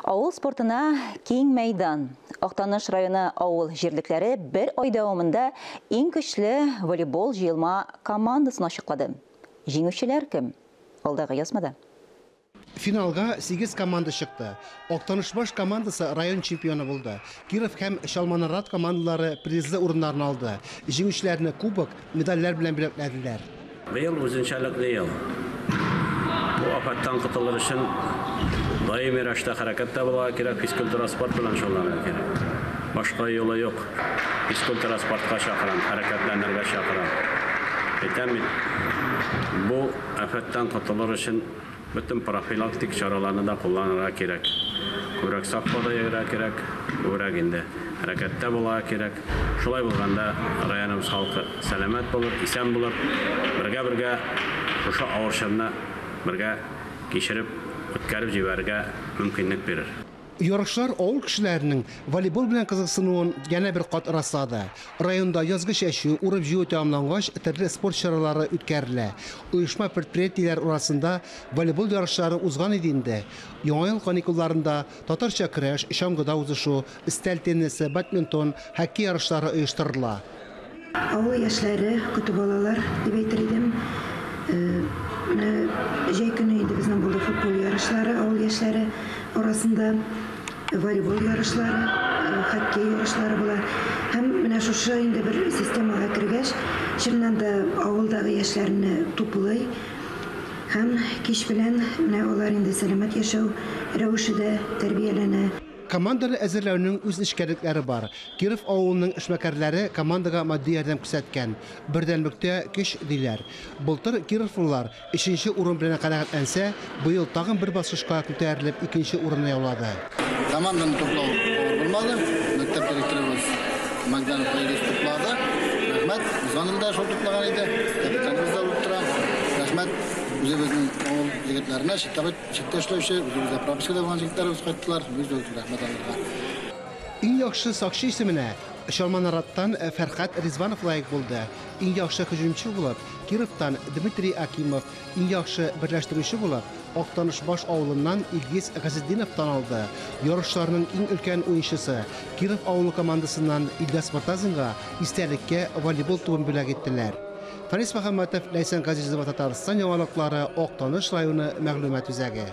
Авыл спортына киң мәйдан. Актаныш районы авыл җирлекләре бер ай дәвамында иң көчле волейбол җыелма командасын ачыклады. Җиңүчеләр кем? Алдагы язмада. Финалга сигез команда чыкты. Актанышбаш командасы район чемпионы булды. Киров һәм Чалманарат командалары призлы урыннарны алды. Җиңүчеләрне кубок, медальләр белән бүләкләделәр. Быел үзенчәлекле ел. Бу афәттән котылыр өчен даими рәвештә хәрәкәттә булырга кирәк, физкультура, спорт белән шөгыльләнергә кирәк. Башка юлы юк. Физкультура, спортка чакырам, хәрәкәтләнергә чакырам. Әйтәм бит, бу афәттән котылыр өчен Бөтен профилактик чараларны да кулланырга кирәк. Күбрәк сак калырга йөрергә кирәк, күбрәк инде хәрәкәттә булырга кирәк. Шулай булганда районыбыз халкы сәламәт булыр, исән булыр. Бергә-бергә шушы авыр чорны бергә кичереп, үткәреп җибәрергә мөмкинлек бирер. Ярышлар авыл кешеләренең волейбол белән кызыксынуын янә бер кат раслады. Районда язгы чәчү, урып-җыю тәмамлангач, төрле спорт чаралары үткәрелә. Оешма-предприятиеләр арасында волейбол ярышлары узган иде инде. Яңа ел каникулларында татарча көрәш, чаңгыда узышу, өстәл теннисы, бадминтон, хоккей ярышлары оештырыла. Авыл яшьләре, көтү балалар дип әйтер идем. Менә җәй көне инде безнең булды футбол ярышлары авыл яшьләре арасында, волейбол ярышлары, хоккей ярышлары була. Һәм менә шушы инде бер системага кергәч, чыннан да авылдагы яшьләрне туплый һәм кич белән менә алар инде сәламәт яшәү рәвеше дә тәрбияләнә. Команданы әзерләүнең үз нечкәлекләре бар. Киров авылының эшмәкәрләре командага матди ярдәм күрсәткән. Бердәмлектә, көч, диләр. Былтыр кировлылар өченче урын белән канәгатьләнсә, быел тагын бер баскычка күтәрелеп, икенче урынны яулады. Команданы туплау авыр булмады. Мәктәп директорыбыз Магданов Айрис туплады. Рәхмәт. Узган ел да шул туплаган иде. Капитаныбыз да булып тора. Рәхмәт үзебезнең авыл егетләренә, читтәбед Читтә эшләүче, үзебездә пропискада булган җегетләребез кайттылар. Без дә үзебез рәхмәт алырга. Иң яхшы сакчы исеменә Чалма Нараттан Фәрхәт Ризванов лаек булды. Иң яхшы һөҗүмче булып Кировтан Дмитрий Акимов, иң яхшы берләштерүче булып Актанышбаш авылыннан Илгиз Газетдинов танылды. Ярышларның иң өлкән уенчысы Киров авылы командасыннан Илдәс Мортазинга истәлеккә волейбол тубын бүләк иттеләр. Фарис Мөхәммәтов, Ләйсән Газизова, Татарстан яңалыклары, Актаныш районы мәгълүмат үзәге.